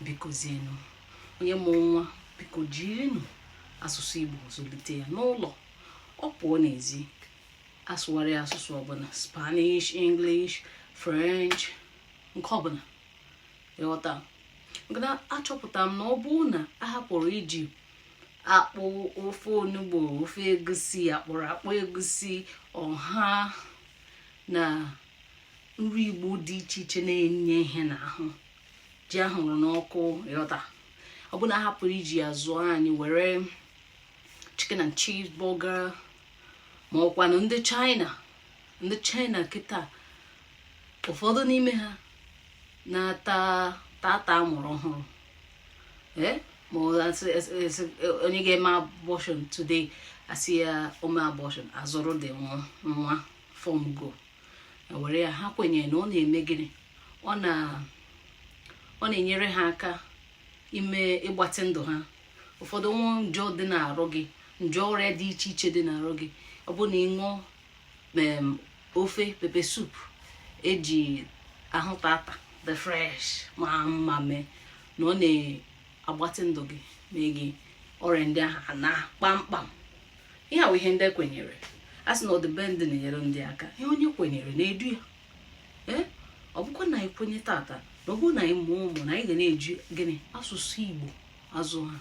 bikozienụ onye mụrụ nwa biko jirinụ asụsụ igbo zụlite ya n'ụlọ ọ pụọ n'ezi asụgharị asụsụ ọbụla spanish english french nke ọbụla ị ghọta na achọpụta m na ọ bụrụ na a hapụrụ iji akpụ ofe onugbu ofe egusi akpụrụ akpụ egusi ọha na nri igbo dị iche iche na-enye ihe n'ahụ ji ahụrụ n'ọkụ ị ghọta ọ bụ na a hapụrụ iji ya zụọ anyị were chicken and cheese burger ma ọ kwanụ ndị china ndị china kịta ụfọdụ n'ime ha na-ata tata amụrụ ọhụrụ eh? ma onye ga-eme abortion today a sị ya o mee abortion azụrụ dị nwa from go were ya ha kwenyere na ọ na-eme gịnị ọ na-enyere ha aka ime ịgbatị ndụ ha ụfọdụ nwa njọ dị n'arụ gị njọ ọrịa dị iche iche dị n'arụ gị ọ bụ na ị ṅụọ ofe pepper soup eji ahụ tata the fresh ma mma mee na ọ na-agbatị ndụ gị mee gị ọrịa ndị ahụ anaa kpamkpam ihe a wụ ihe ndị a kwenyere a sị na ọdị be ndị na-enyere ndị aka ihe onye kwenyere na-edu ya ee ọ bụkwa na anyị kwenye tata na ọ bụrụ na anyị mụọ ụmụ na anyị ga na-eji gịnị asụsụ igbo azụ ha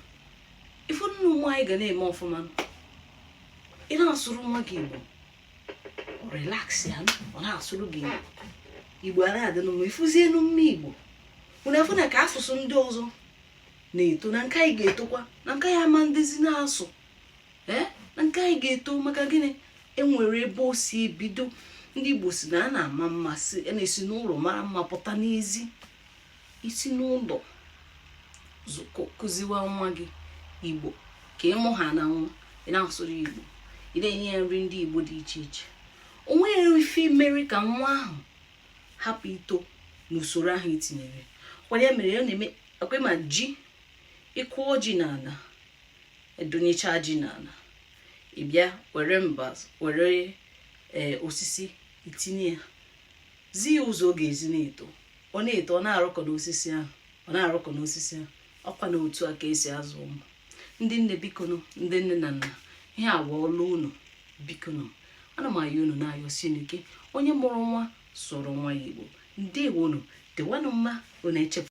ị fụ na ụmụ anyị ga na-eme ọfụma ị na-asụrụ nwa gị igbo relax ya ọ na-asụrụ gị igbo igbo a na-adị n'ọnụ ị fụzie na ụmụ igbo unu afụ na ka asụsụ ndị ọzọ na-eto na nke anyị ga-etokwa na nke anyị ama na-adịzi n'azụ ee na nke anyị ga-eto maka gịnị enwere ebe o si ebido ndị igbo sị na a na-ama mma a na-esi n'ụlọ mara mma pụta n'ezi i si n'ụlọ kụziwa nwa gị igbo ka ị mụhana nwa ị na-asụrụ igbo ị na-enye ya nri ndị igbo dị iche iche o nweghị ife mere ka nwa ahụ hapụ ito n'usoro ahụ i tinyere kwanye mere ya na-eme ekwema ji ị kụọ ji n'ala edunyecha ji n'ala ị bịa were mba were e, osisi itinye ya zi ya ụzọ ọ ga-esi na-eto ọ na-eto ọ na-arụkọ n'osisi ahụ ọ na-arụkọ n'osisi ahụ ọkwa na otu a ka esi azụ ụmụ ndị nne bikonụ ndị nne na nna ihe a wụ ọlụ unu bikonụ ana m ayọ unu na-ayọsi ike onye mụrụ nwa sụrụ nwa ya igbo ndewo nụ dịwanụ mma unu echepụ